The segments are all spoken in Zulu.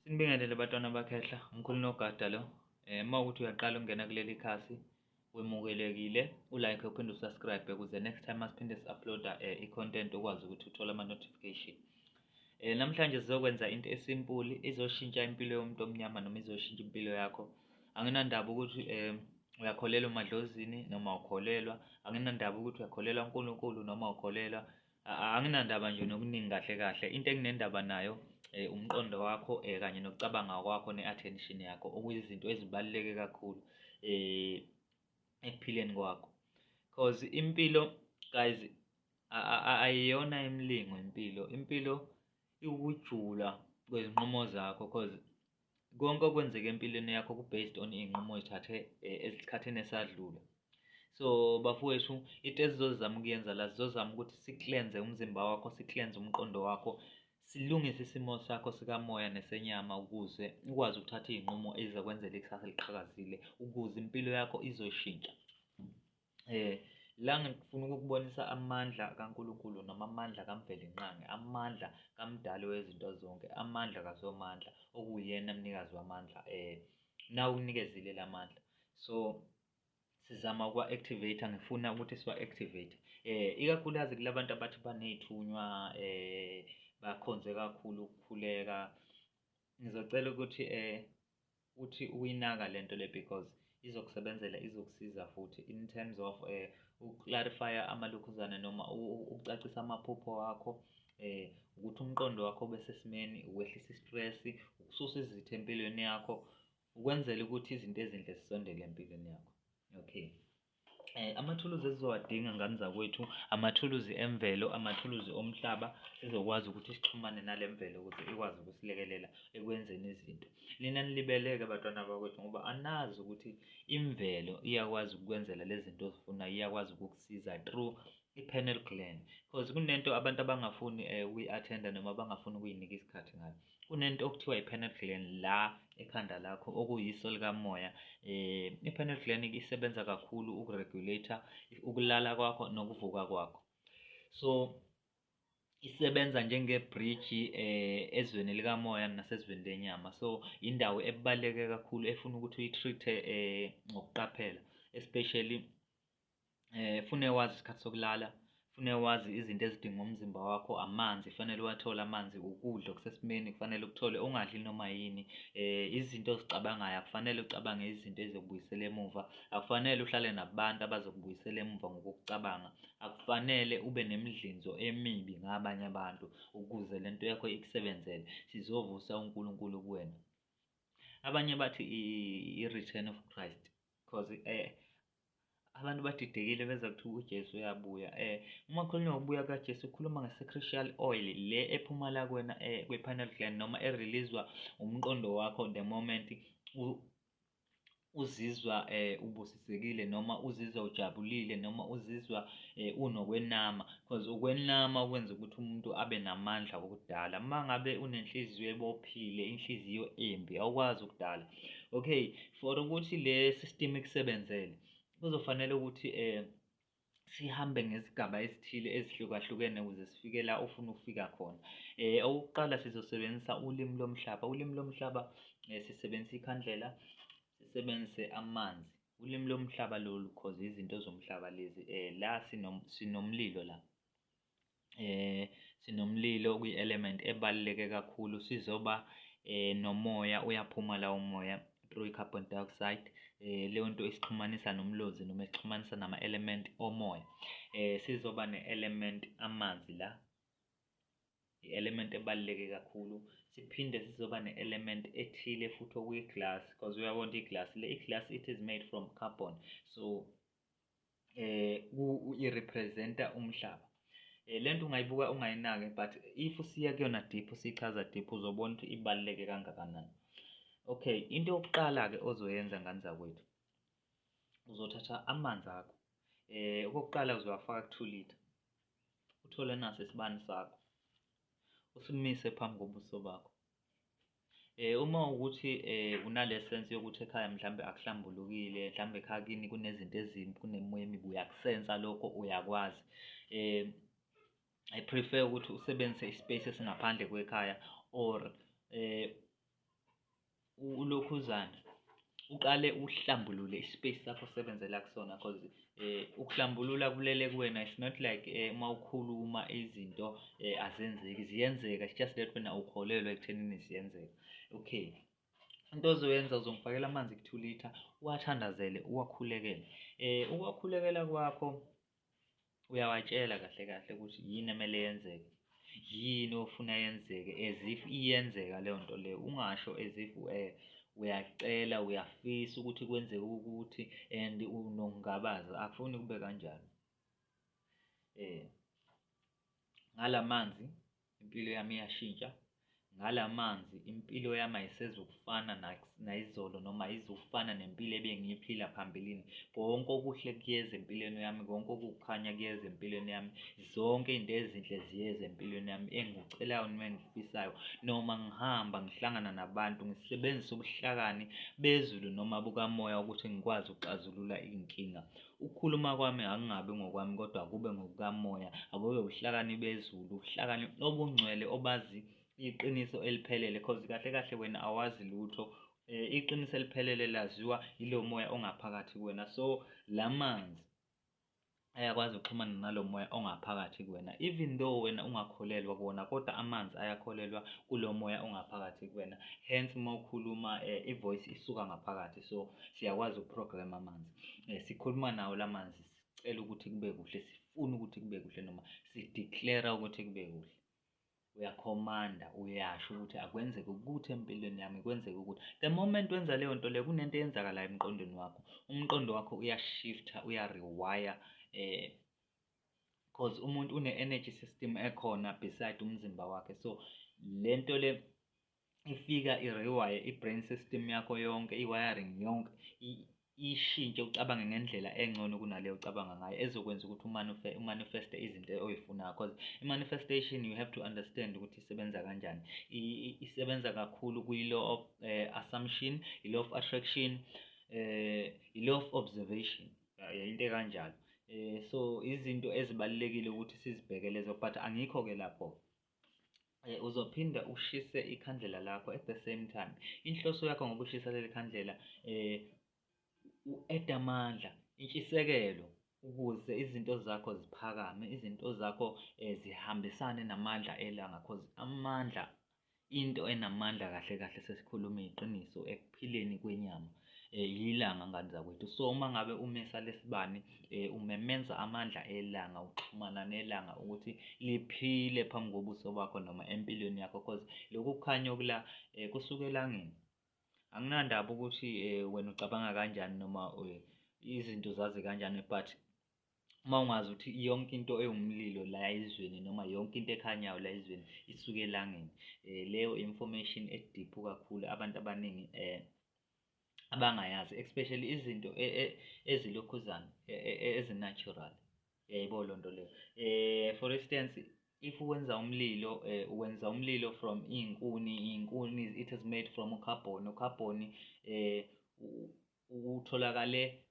Sinibingelele batwana bakhehla umkhulu nogada lo eh uma ukuthi uyaqala ukungena kuleli khasi wemukelekile ulike uphinde usubscribe ukuze next time asiphinde si-uploada eh, i-content ukwazi ukuthi uthole ama-notification eh namhlanje sizokwenza into esimpuli izoshintsha impilo yomuntu omnyama noma izoshintsha impilo yakho anginandaba ukuthi eh uyakholelwa emadlozini noma ukholelwa anginandaba ukuthi uyakholelwa uNkulunkulu noma ukholelwa Anginandaba nje nokuningi kahle kahle into enginendaba nayo um umqondo wakho um kanye nokucabanga kwakho ne-attention yakho okuyizinto ezibaluleke kakhulu um ekuphileni kwakho cause impilo guys ayiyona imilingo impilo impilo iwukujula kwezinqumo zakho cause konke okwenzeka empilweni yakho ku-based on iy'nqumo ezithathe eh, esikhathini esadlule so bafowethu into esizozama ukuyenza la sizozama ukuthi siklenze umzimba wakho siklenze umqondo wakho silungise isimo sakho sikamoya nesenyama ukuze ukwazi ukuthatha iy'nqumo ezizokwenzela ikusasa eliqhakazile ukuze impilo yakho izoshintsha Eh la ngifuna ukukubonisa amandla kaNkulunkulu noma amandla kaMvelinqangi, amandla kaMdali wezinto zonke, amandla kaSomandla okuyena mnikazi wamandla eh na ukunikezile lamandla. So sizama ukuwa-activate ngifuna ukuthi siwa-activate eh ikakhulukazi kulabantu abathi baney'thunywa eh bakhonze kakhulu ukukhuleka ngizocela ukuthi eh uthi uyinaka lento le because izokusebenzela izokusiza futhi in terms of um eh, ukuclarifya amalokhuzane noma ukucacisa amaphupho wakho eh ukuthi umqondo wakho ube sesimeni ukwehlisa istress ukususa izitha empilweni yakho ukwenzela ukuthi izinto ezinhle zisondele empilweni yakho okay Eh, amathuluzi esizowadinga ngane zakwethu amathuluzi emvelo amathuluzi omhlaba sizokwazi ukuthi sixhumane nale mvelo ukuthi ikwazi ukusilekelela ekwenzeni izinto nina nilibeleke batwana bakwethu ngoba anazi ukuthi imvelo iyakwazi ukukwenzela lezi zinto ozifunayo iyakwazi ukukusiza through i-panel gland because kunento abantu abangafuni um eh, ukuyi-athenda noma abangafuni ukuyinika isikhathi ngayo kunento okuthiwa i-pineal gland la ekhanda lakho okuyiso likamoya eh i-pineal gland isebenza kakhulu ukuregulator ukulala kwakho nokuvuka kwakho so isebenza njengebhriji eh ezweni likamoya nasezweni lenyama so indawo ebaleke kakhulu efuna ukuthi uyitreat eh ngokuqaphela especially eh fune wazi isikhathi sokulala fune wazi izinto ezidinga umzimba wakho amanzi fanele uwathole amanzi ukudla okusesimeni kufanele ukuthole ungadli noma yini eh izinto ozicabangayo akufanele ucabange izinto ezokubuyisela emuva akufanele uhlale nabantu abazokubuyisela emuva ngokucabanga akufanele ube nemidlinzo emibi ngabanye abantu ukuze lento yakho ikusebenzele sizovusa uNkulunkulu kuwena abanye bathi i-return of Christ because eh abantu badidekile beza kuthiwa uJesu uyabuya eh uma khulunywa ngokubuya kaJesu ukhuluma ngesacrificial oil le ephuma la kwena eh kwepineal gland noma ereleasewa umqondo wakho the moment uzizwa eh ubusisekile noma uzizwa ujabulile noma uzizwa eh unokwenama because ukwenama kwenza ukuthi umuntu abe namandla okudala mangabe unenhliziyo ebophile inhliziyo embi awukwazi ukudala okay for ukuthi le system ikusebenzele kuzofanele ukuthi um sihambe ngezigaba ezithile ezihlukahlukene ukuze sifike la ofuna ukufika khona um okokuqala sizosebenzisa ulimi lomhlaba ulimi lomhlaba um sisebenzisa ikhandlela sisebenzise amanzi ulimi lomhlaba lolu cause izinto zomhlaba lezi um la sinomlilo la. eh sinomlilo okuyi-element ebaluleke kakhulu sizoba eh nomoya uyaphuma lawo moya through i-carbon dioxide eh leyo nto isixhumanisa nomlozi noma isixhumanisa nama-element omoya eh sizoba ne-element amanzi la i-element ebaluleke kakhulu siphinde sizoba ne-element ethile futhi okuyi-glass because uyabona iglass le i-glass it is made from carbon so um i-represent-a umhlaba um le nto ungayibuka ungayinaki but if usiya kuyona deep usichaza deep uzobona ukuthi ibaluleke kangakanani okay into yokuqala-ke ozoyenza ngane zakwethu uzothatha amanzi akho um okokuqala uzowafaka ku-two litre uthole naso isibani sakho usimise phambi kobuso bakho Eh uma ukuthi eh unale sense yokuthi ekhaya mhlambe akuhlambulukile, mhlambe ekhaya kini kunezinto ezimbi, kunemimoya emibi uyakusensa lokho uyakwazi. Eh I prefer ukuthi usebenzise ispace esingaphandle kwekhaya or eh ulokhuzana uqale uhlambulule ispace sakho osebenzela kusona cause eh ukuhlambulula kulele kuwena it's not like eh uma ukhuluma izinto eh azenzeki ziyenzeka it's just that wena ukholelwa ekuthenini ziyenzeka okay into ozoyenza uzongifakela amanzi ku-two litre uwathandazele uwakhulekele um ukuwakhulekela kwakho Uyawatshela kahle kahle ukuthi yini emele yenzeke, yini ofuna yenzeke as if iyenzeka leyo nto leyo. Ungasho as if uyacela, uyafisa ukuthi kwenzeke ukuthi and unokungabaza, akufuni kube kanjalo. Ngala manzi impilo yami iyashintsha ngala manzi impilo yami ayisezukufana nayizolo noma ayizufana nempilo ebengiyiphila phambilini konke okuhle kuyeza empilweni yami konke okukhanya kuyeza empilweni yami zonke izinto ezinhle ziyeza empilweni yami engikucelayo noma engikufisayo noma ngihamba ngihlangana nabantu ngisebenzisa ubuhlakani bezulu noma bukamoya ukuthi ngikwazi ukuxazulula iy'nkinga Ukukhuluma kwami akungabi ngokwami kodwa kube ngokukaMoya, akube ubuhlakani bezulu, ubuhlakani obungcwele obazi iqiniso eliphelele cause kahle kahle wena awazi lutho. Eh, iqiniso eliphelele laziwa yilo moya ongaphakathi kuwena. So la manzi ayakwazi ukuxhumana nalo moya ongaphakathi kuwena even though wena ungakholelwa kuwona kodwa amanzi ayakholelwa kulo moya ongaphakathi kuwena hence uma ukhuluma um eh, i-voice isuka ngaphakathi so siyakwazi ukuprograma amanzi eh, sikhuluma nawo lamanzi sicela ukuthi kube kuhle sifuna ukuthi kube kuhle noma sideclare ukuthi kube kuhle uyakhomanda uyasho ukuthi akwenzeke ukuthi empilweni yami kwenzeke ukuthi the moment wenza leyo nto leyo kunento eyenzakalayo emqondweni wakho umqondo wakho uyashifta uyarewire um eh, cause umuntu une-energy system ekhona beside umzimba wakhe so le nto le ifika i-rewire i-brain system yakho yonke i-wiring yonke ishintshe ucabange ngendlela engcono kunaleyo ocabanga ngayo ezokwenza ukuthi umanifeste izinto oyifunayo because i-manifestation you have to understand ukuthi isebenza kanjani isebenza kakhulu kwi-law of uh, assumption i-law of attraction uh, i-law of observation yayinto ekanjalo um so izinto ezibalulekile ukuthi sizibheke lezo but angikho-ke lapho-ke Eh, uzophinda ushise ikhandlela lakho at the same time inhloso yakho ngokushisa leli khandlela eh u-eda amandla intshisekelo ukuze izinto zakho ziphakame izinto zakho eh, zihambisane namandla elanga cause amandla into enamandla kahle kahle sesikhuluma iqiniso ekuphileni kwenyama eh, yilanga ngane zakwethu so uma ngabe umesa lesibani eh, umemenza amandla elanga uxhumana nelanga ukuthi liphile phambi kobuso bakho noma empilweni yakho cause lokhu kukhanya okula eh, kusuke elangeni anginandaba ukuthi eh, wena ucabanga kanjani noma eh, izinto zazi kanjani but uma ungazi ukuthi yonke into ewumlilo la ezweni noma yonke into ekhanyayo la ezweni isuke elangeni um leyo information ediphu kakhulu abantu abaningi um abangayazi especially izinto e, e, ezilokhuzana e, ezinatural yayibo loo nto leyo um for instance if wenza umlilo eh, wenza umlilo from iy'nkuni iy'nkuni it is made from ucarbon ucarbon eh, utholakale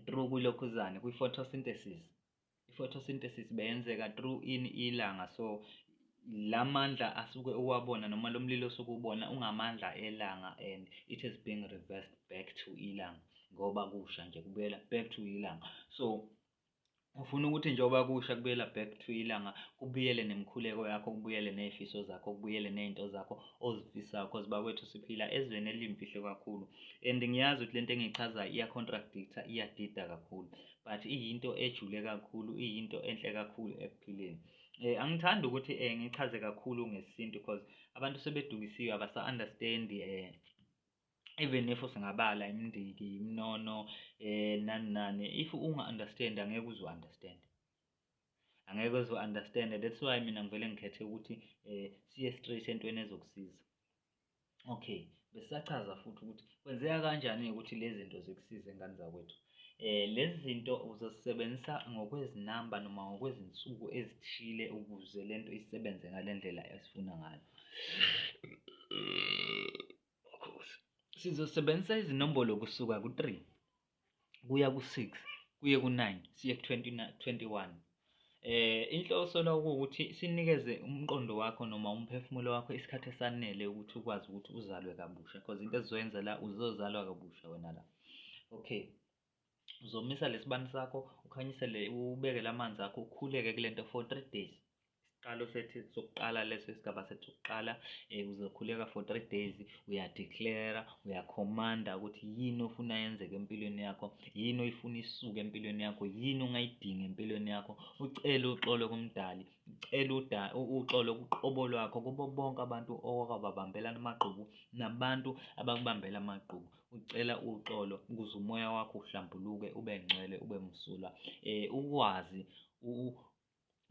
through kulokhuzane kwi-photosynthesis i-photosynthesis beyenzeka through ini ilanga so la mandla asuke uwabona noma lo mlilo osuke ubona ungamandla elanga and it is being reversed back to ilanga ngoba kusha nje kubuyela back to ilanga so Ufuna ukuthi njengoba kusha kubuyela back to ilanga kubuyele nemikhuleko yakho kubuyele ney'fiso zakho kubuyele ney'nto zakho ozifisa cause bakwethu siphila ezweni eliyimfihlo kakhulu and ngiyazi ukuthi le nto engiyichazayo iya-contradictor iyadida kakhulu but iyinto ejule kakhulu iyinto enhle kakhulu ekuphileni um angithandi ukuthi um ngichaze kakhulu ngesintu cause abantu sebedukisiwe abasa-understand-i um even if singabala imindiki iminono eh nani nani if unga understand angeke uzo understand angeke uzo understand that's why mina ngivele ngikhethe ukuthi eh siye straight entweni ezokusiza okay besachaza futhi ukuthi kwenzeka kanjani ukuthi lezi zinto zikusize ingane zakwethu eh lezi zinto uzosebenzisa ngokwezinamba noma ngokwezinsuku ezithile ukuze lento isebenze ngalendlela esifuna ngayo Sizosebenzisa izinombolo kusuka ku-3 kuya ku-6 kuye ku-9 siye ku-21. Eh inhloso la ukuthi sinikeze umqondo wakho noma umphefumulo wakho isikhathi esanele ukuthi ukwazi ukuthi uzalwe kabusha because into ezoyenza la uzozalwa kabusha wena la. Okay. uzomisa lesibani sakho ukhanyisele ubekele amanzi akho ukhuleke kule nto for three days isiqalo sethu sokuqala leso isigaba sethu sokuqala um uzokhuleka for three days uyadeclara uyakhomanda ukuthi yini ofuna yenzeke empilweni yakho yini oyifuna isuke empilweni yakho yini ongayidingi empilweni yakho ucele uxolo kumdali ucele uxolo kuqobo lwakho kubo bonke abantu owakababambela amagqubu nabantu abakubambela amagqubu Ucela uxolo ukuze umoya wakho uhlambuluke ube ngcwele ube msulwa eh ukwazi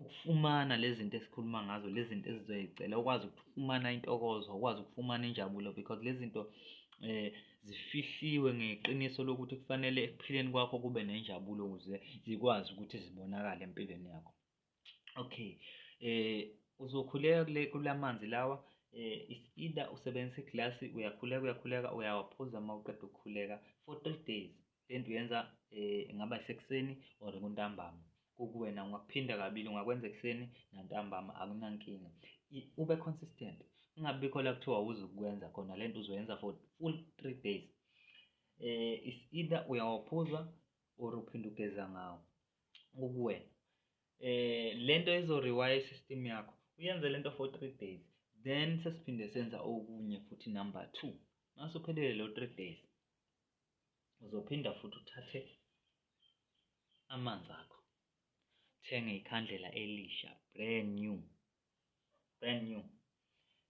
ukufumana lezi zinto esikhuluma ngazo lezi zinto ezizoyicela ukwazi ukufumana intokozo ukwazi ukufumana injabulo because lezi zinto eh zifihliwe ngeqiniso lokuthi kufanele ekuphileni kwakho kube nenjabulo ukuze zikwazi ukuthi zibonakale empilweni yakho okay eh uzokhuleka kule kulamanzi lawa eh is either usebenzisa iglasi uyakhuleka uyakhuleka uyawaphuza uma uqeda ukukhuleka for three days le nto uyenza eh ingaba isekuseni or kuntambama kukuwena ungakuphinda kabili ungakwenza ekuseni nantambama akunankinga ube consistent kungabikho la kuthiwa uzukwenza khona le nto uzoyenza for full three days eh is either uyawaphuza or uphinde ugeza ngawo kukuwena eh lento izo rewire system yakho uyenze lento for 3 days then sesiphinde senza okunye futhi number 2 nasuphelele lo 3 days uzophinda futhi uthathe amanzi akho thenge ikhandlela elisha brand new brand new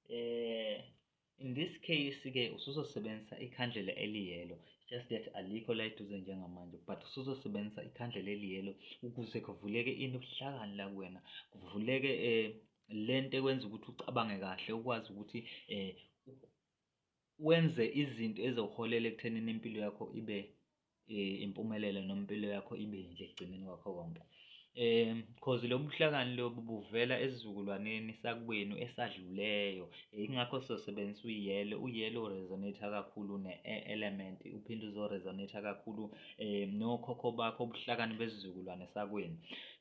eh in this case ke usuzosebenzisa ikhandlela eliyelo just that alikho la eduze njengamanje but usuzosebenzisa ikhandlela eliyelo ukuze kuvuleke ini ubuhlakani la kuwena kuvuleke eh lento ekwenza ukuthi ucabange kahle ukwazi ukuthi eh wenze izinto ezoholela ekuthenini impilo yakho ibe eh, impumelelo noma impilo yakho ibe yinhle ekugcineni kwakho konke um cause lobu buhlakani lobu buvela esizukulwaneni sakwenu esadluleyo yingakho sizosebenzisa uyelo uyelo uresonate kakhulu ne-element uphinde uzoresonate kakhulu um nokhokho bakho ubuhlakani besizukulwane sakwenu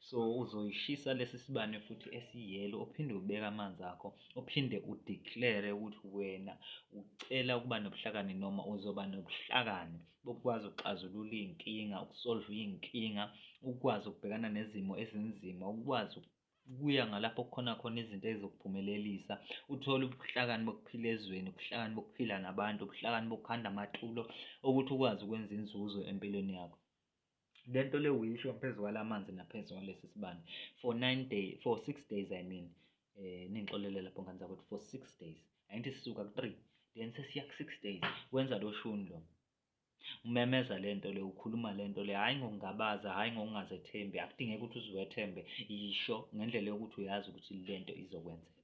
so uzoyishisa lesi sibane futhi esiyelo uphinde ubeke amanzi akho uphinde udeclare ukuthi wena ucela ukuba nobuhlakani noma uzoba nobuhlakani bokwazi ukuxazulula iy'nkinga, ukusolva iy'nkinga, ukwazi ukubhekana nezimo ezinzima, ukwazi kuya ngalapho kukhona khona izinto ezizokuphumelelisa uthole ubuhlakani bokuphila ezweni ubuhlakani bokuphila nabantu ubuhlakani bokukhanda amatulo okuthi ukwazi ukwenza inzuzo empilweni yakho. le nto le uyisho ngaphezu kwala manzi naphezu kwalesi sibani for nine day for six days i mean eh ningixolele lapho ngane zakwethu for six days angithi sisuka ku-three then sesiya ku-six days wenza lo shuni lo umemeza le nto le ukhuluma le nto le hhayi ngokungabaza hhayi ngokungazethembi akudingeki ukuthi uziwethembe yisho ngendlela yokuthi uyazi ukuthi le nto izokwenzeka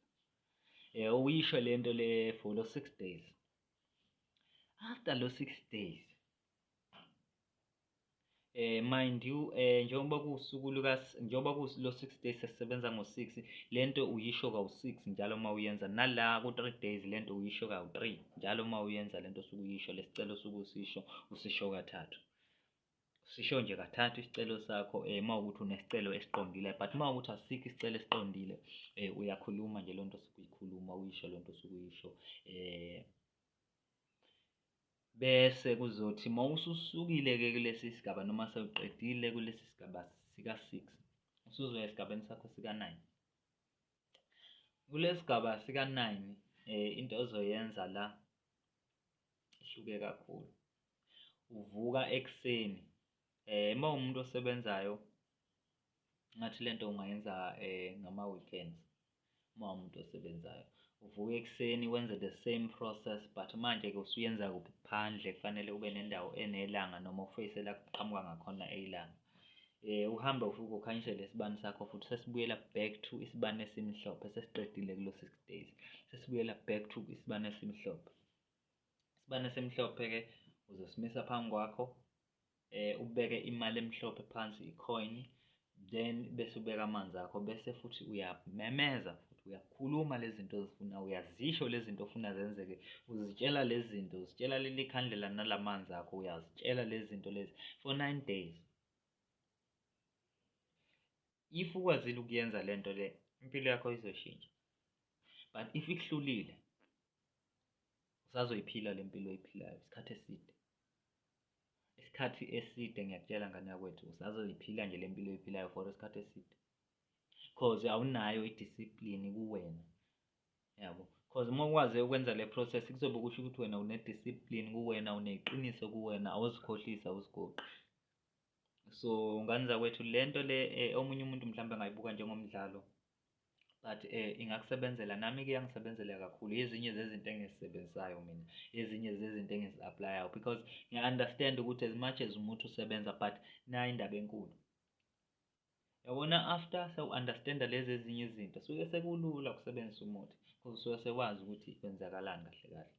eh uyisho lento le for lo 6 days after lo 6 days eh mind you eh njengoba kusuku luka njengoba ku lo 6 days sesebenza ngo 6 lento uyisho ka 6 njalo uma uyenza nala ku 3 days lento uyisho ka 3 njalo uma uyenza lento suku yisho lesicelo suku sisho usisho kathathu sisho nje kathathu isicelo sakho eh uma ukuthi unesicelo esiqondile but uma ukuthi asikho isicelo esiqondile eh uyakhuluma nje lonto sukuyikhuluma uyisho lonto sukuyisho eh Bese kuzothi uma ususukile-ke kulesi sigaba noma sewuqedile kulesi sigaba sika-six usuzoya esigabeni sakho sika-nine. Kulesi sigaba sika-nine eh, into ozoyenza la ihluke kakhulu. Uvuka ekuseni eh, uma umuntu osebenzayo ngathi lento ungayenza eh, ngama-weekends uma umuntu osebenzayo uvuka ekuseni wenze the same process but manje-ke usuyenza kuphi phandle kufanele ube nendawo enelanga noma ufeyise la kuqhamuka ngakhona ilanga um eh, uhambe ufuke ukhanyisele isibani sakho futhi sesibuyela back to isibani esimhlophe sesiqedile kulo six days sesibuyela back to isibani esimhlophe isibani esimhlophe-ke uzosimisa phambi kwakho eh ubeke imali emhlophe phansi icoin then bese ubeka amanzi akho bese futhi uyamemeza futhi uyakhuluma lezi zinto ozifuna uyazisho lezi zinto ofuna zenzeke uzitshela lezi zinto uzitshela leli khandlela nalamanzi akho uyazitshela lezi zinto lezi for 9 days if ukwazile ukuyenza lento le impilo yakho izoshintsha but if ikuhlulile usazoyiphila lempilo oyiphilayo isikhathi eside isikhathi eside ngiyakutshela ngane yakwethu usazoyiphila nje le mpilo oyiphilayo for isikhathi eside cause awunayo i-discipline kuwena yabo cause uma ukwaze ukwenza le process kuzobe kusho ukuthi wena une-discipline kuwena uneqiniso kuwena awuzikhohlisi awuzigoqi so ngane zakwethu le nto le eh, omunye umuntu mhlawumbe angayibuka njengomdlalo but eh ingakusebenzela nami ke yangisebenzela kakhulu ezinye zezinto engizisebenzisayo mina ezinye zezinto engizi-aplayayo because ngiya-understand ukuthi as much as umuntu usebenza but nayo indaba enkulu yabona after sewu-understanda lezi ezinye izinto suke sekulula ukusebenzisa umuthi because usuke sewazi ukuthi kwenzakalani kahle kahle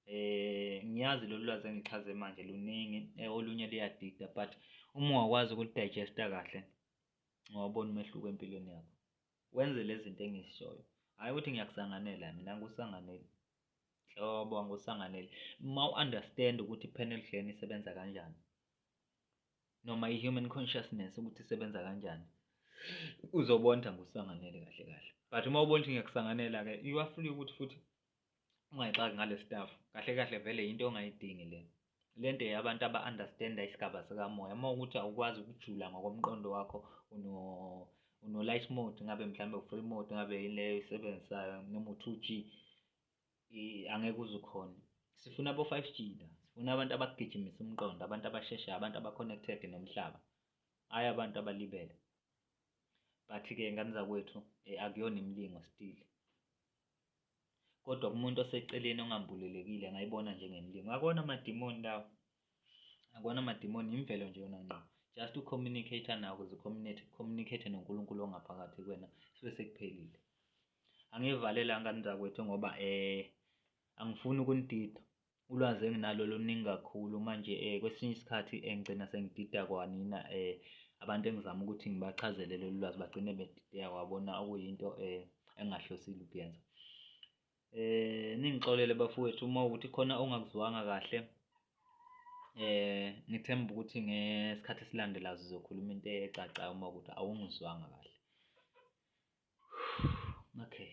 eh ngiyazi lolu lwazi engichaze manje luningi eh, olunye luyadida but uma wakwazi ukulidigesta kahle ungawubona umehluko empilweni yakho wenze lezi zinto engizishoyo hhayi ukuthi ngiyakusanganela mina angikusanganeli hlobo angikusanganeli uma u-understand ukuthi i-panel glan isebenza kanjani noma i-human consciousness ukuthi isebenza kanjani uzobona ukuthi angikusanganeli kahle kahle but uma ubona ukuthi ngiyakusanganela-ke you are free ukuthi futhi ungayixaki ngale staff kahle kahle vele yinto ongayidingi le lento yabantu aba-understanda isigaba sikamoya uma ukuthi awukwazi ukujula ngokomqondo wakho uno uno-light mode ngabe mhlawumbe u-free mode ngabe yini leyo isebenzisayo noma u-two g angeke uze ukhone sifuna abo-five g la sifuna abantu abagijimisa umqondo abantu abasheshayo abantu aba-connected nomhlaba hhayi abantu abalibele but-ke ngane zakwethu eh, akuyona imilingo still kodwa kumuntu oseceleni ongambulelekile angayibona njengemlingo akona amadimoni lawo akona amadimoni yimvelo nje yona ngqo just ucommunicate nawo ukuze communicate noNkulunkulu ongaphakathi kwena sibe sekuphelile angivalelanga nzakwethu ngoba eh angifuni ukunidida ulwazi enginalo luningi kakhulu manje um kwesinye isikhathi um ngigcina sengidida kwanina um abantu engizama ukuthi ngibachazele lolu lwazi bagcine bedideka kwabona okuyinto um engingahlosile ukuyenza eh ningixolele bafowethu uma ukuthi khona ongakuzwanga kahle eh ngithemba ukuthi ngesikhathi esilandela sizokhuluma into ecacayo uma ukuthi awungizwanga kahle okay